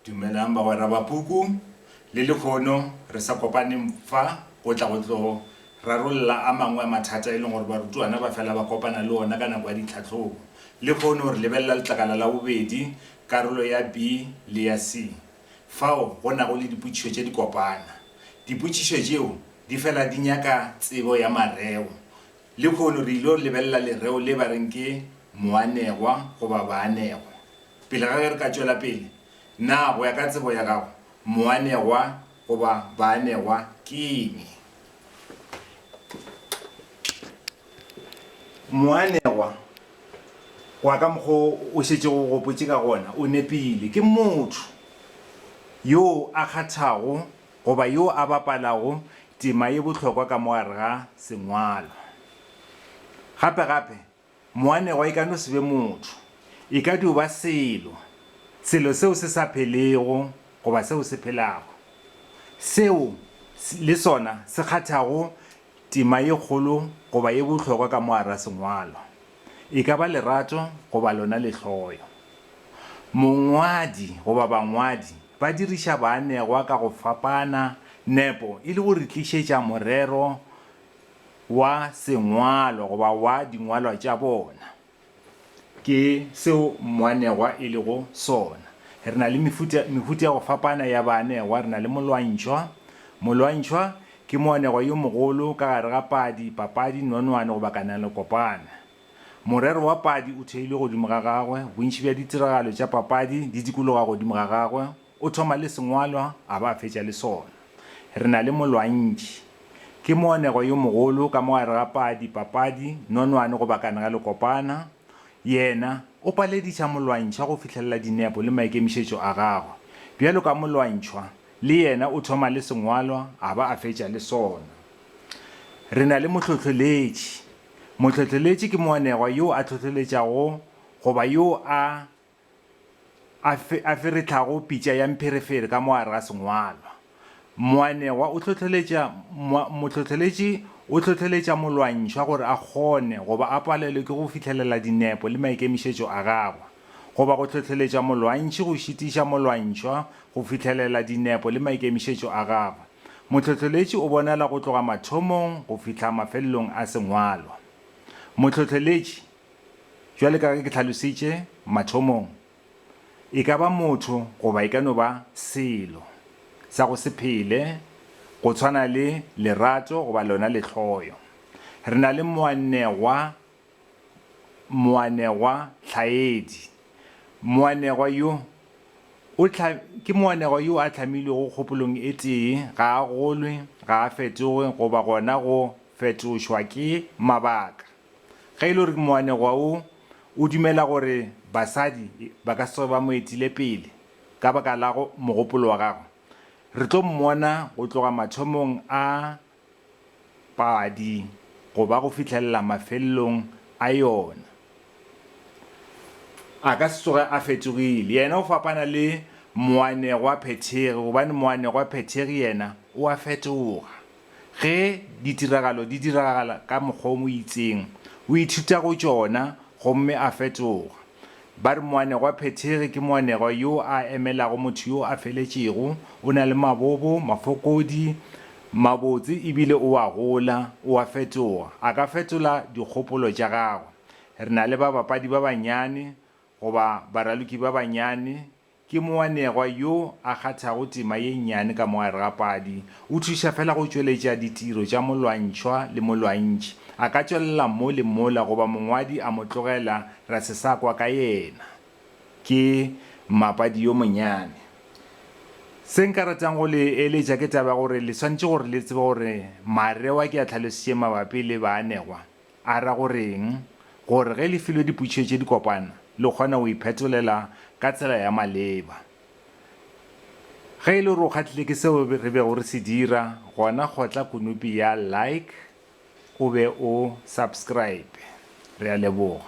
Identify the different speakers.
Speaker 1: Dumelang bagwera ba puku. Le lekhono re sa kopaneng fa go tla go tlo rarolla a mangwe a mathata e leng gore barutwana ba fela ba kopana le ona ka nako ya ditlhahlobo. Lekhono re lebelela letlakala la bobedi, karolo ya B le ya C, fao go nago le dipotšišo tše di kopana. Dipotšišo tšeo di fela di nyaka tsebo ya mareo. Lehono re il'o lebelela lereo le ba reng ke moanegwa goba baanegwa. Pele ga ge re ka tšwela pele, na go ya ka tsebo ya gago moanegwa goba baanegwa ke eng? Moanegwa, go ya ka mokg'o o šetšego o gopotše ka gona, o nepile. Ke motho yoo a kgathago Goba yo a bapalago tema ye bohlokwa ka mo gare ga sengwalo. Gape gape, moanegwa e ka no se be motho, e ka dio ba selo, selo seo se sa phelego goba seo se phelago, seo le sona se kgathago Tema ye kgolo goba ye bohlokwa ka mo gare ga sengwalwa e ka ba lerato goba lona lehloyo. Mongwadi goba bangwadi ba diriša baanegwa ka go fapana nepo e le go re tlišetša morero wa sengwalwa goba wa dingwalwa tša bona. Ke seo moanegwa e lego sona. Re na le mefuta, mehuta ya go fapana ya baanegwa. Re na le molwantšhwa. Molwantšhwa ke moanegwa yo mogolo ka gare ga padi, papadi, nonwane goba kananelokopana. Morero wa padi o theilwe godimo ga gagwe, bontši bja ditiragalo tša papadi di dikologa godimo ga gagwe. O thoma le sengwalwa a ba a fetša le sona. Re na le molwantši. Ke moanegwa yo mogolo ka mo gare ga padi, papadi, nonwane goba kane ga le kopana. Yena, o palediša molwantšhwa go fihlelela dinepo le maikemišetšo a gagwe. Bjalo ka molwantšhwa, le yena o thoma le sengwalwa a ba a fetša le sona. Re na le mohlohloletši. Mohlohloletši ke moanegwa yo a hlohloletšago goba yo a a fe, a feretlhago pitša ya mpherefere ka mo gare ga sengwalwa. Moanegwa o hlohleletša, moa, mohlohleletši o hlohleletša molwantšhwa gore a kgone, goba a palelwe ke go fihlelela dinepo le maikemišetšo a gagwe, goba go hlohleletša molwantšhi go šitiša molwantšhwa go fihlelela dinepo le maikemišetšo a gagwe. Mohlohleletši o bonala go tloga mathomong go fihla mafelelong a sengwalwa. Mohlohleletši. Bjale ka ge ke hlalositše mathomong, e ka ba motho goba e ka no ba selo sa go se phele, go tshwana le lerato goba lona lehloyo. Re na le moanegwa, moanegwa tlhaedi. Moanegwa yo o tlha, ke moanegwa yo a hlamilwego kgopolong e tee, ga a golwe, ga a fetoge goba gona go fetošwa ke mabaka. Ge e le gore moanegwa wo o dumela gore basadi ba ka se tsoge ba mo etile pele ka baka la mogopolo wa gagwe, re tlo mmona go tloga mathomong a padi go ba go fihlelela mafelelong a yona. A ka se tsoge a fetogile. Yena o fapana le moanegwa phethegi gobane moanegwa phethegi yena o a fetoga. Ge ditiragalo di diragala ka mokgwa o mo itseng, o ithuta go tšona gomme a fetoga. Ba re moanegwaphethegi ke moanegwa yo a emelago motho yo a feletšego, o na le mabobo, mafokodi, mabotse e bile o a gola, o a fetoga. A ka fetola dikgopolo tša gagwe. Re na le babapadi ba banyane goba baraloki ba banyane Ke moanegwa yo a kgathago tema ye nnyane ka mo gare ga padi. O thuša fela go tšweletša ditiro tša molwantšhwa le molwantši. A ka tšwelela mo le mola goba mongwadi a mo tlogela ra se sa kwa ka yena. Ke mmapadi yo monyane. Se nka ratang go le eletša ke taba ya gore le swanetše gore le tsebe gore mareo a ke a hlalositšeng mabapi le baanegwa A ra go reng? Gore ge le filwe dipotšišo tše di kopana, le kgona go iphetolela ka tsela ya maleba. Ge e le gore o kgahlile ke seo re bego re se dira, gona kgotla konopi ya Like o be o Subscribe. Re a leboga.